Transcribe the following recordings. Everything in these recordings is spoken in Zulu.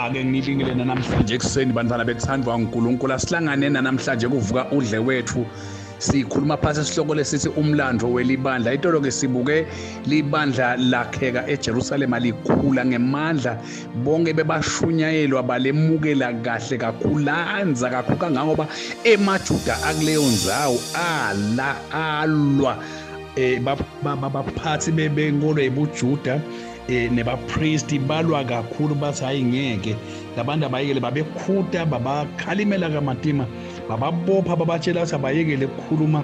ake ngilingile nanamhlanje ekuseni bantwana bethandwa uNkulunkulu asihlangane nanamhlanje kuvuka udle wethu sikhuluma phasi isihloko lesithi umlando welibandla itolo ke sibuke libandla lakheka eJerusalema likhula ngemandla bonke bebashunyayelwa balemukela kahle kakhulu lanza kakhulu kangangoba emajuda akuleyo nzawo ala alwa eh baphathi bebenkolo ebujuda eh nebapristi balwa kakhulu bathi hayi ngeke labantu abayekele babekhuta babakhalimela kamatima bababopha babatshela ukuthi abayekele ukukhuluma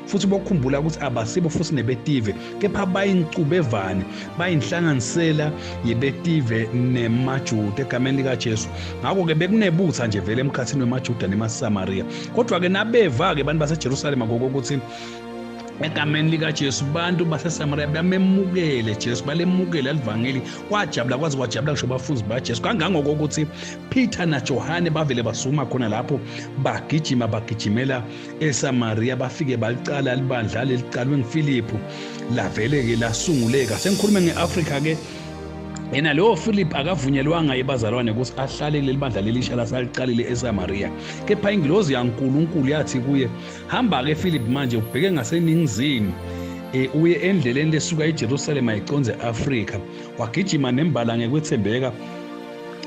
futhi bokhumbula ukuthi abasibo futhi nebetive kepha bayincubevane bayinhlanganisela yebetive nemajuda egameni likajesu ngakho-ke bekunebutha nje vele emkhathini wemajuda nemasamariya kodwa-ke nabeva-ke abantu basejerusalema ngokokuthi egameni likajesu bantu basesamariya bamemukele jesu balemukele alivangeli kwajabula kwaze kwajabula ngisho bafuzi bajesu kangangokokuthi peter najohane bavele basukuma khona lapho bagijima bagijimela eSamaria bafike baliqala libandla leliqalwe nguFiliphu lavele ke lasunguleka sengikhuluma ngeAfrika ke yena lowo philip akavunyelwanga yebazalwane ukuthi ahlale kuleli bandla lelisha lasaliqalile esamaria kepha ingilozi yankulunkulu yathi kuye hamba-ke philip manje ubheke ngaseningizimu e, uye endleleni lesuka ejerusalema iconze afrika wagijima nembala ngekwethembeka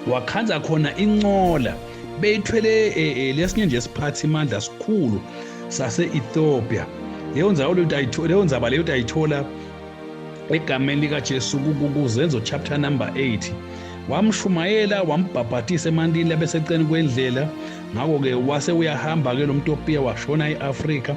wakhanza khona inqola beyithwele eh, eh, lesinye nje siphathi imandla sikhulu sase-ethiopia leyo nzaba leyo nzaba leyo utayithola egameni likajesu kuzenzo chapter number 8 wamshumayela wambhabhathisa emantini labeseceleni kwendlela ngakho-ke wase uyahamba-ke lo mtopiya washona e-afrika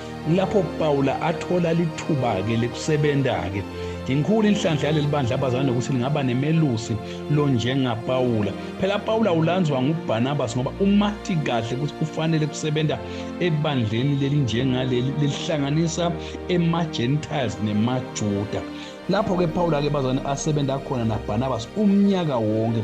Lapho Pawula athola lithuba-ke lekusebenza-ke Inkulu inhlanhla yaleli bandla abazana nokuthi lingaba nemelusi lo njengaPawula. Phela Pawula ulandzwa nguBarnabas ngoba umati kahle ukuthi kufanele kusebenza ebandleni leli njengaleli lelihlanganisa ema-Gentiles nemaJuda. Lapho-ke Pawula-ke bazane asebenza khona naBarnabas umnyaka wonke.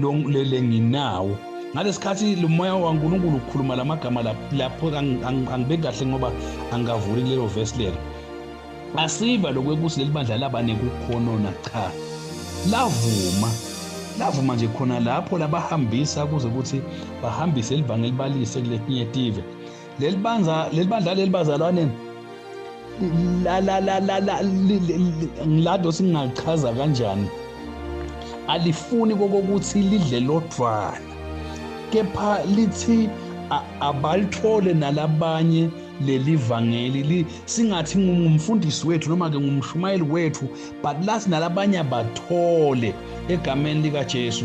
longilele nginawo ngalesikhathi lomoya waNkulunkulu ukhuluma lamagama lapho angibe kahle ngoba angikavuli lelo verse lelo asiva lokwekuthi leli bandla laba nekukhonona cha lavuma lavuma nje khona lapho labahambisa kuze ukuthi bahambise elivangeli balise kuletinye tive leli bandla leli bandla leli bazalwane la la la la la ngilado singachaza kanjani alifuni kokokuthi lidle lodvwana kepha lithi abalithole nalabanye leli vangeli singathi ngumfundisi wethu noma ke ngumshumayeli wethu but lasi nalabanye abathole egameni likaJesu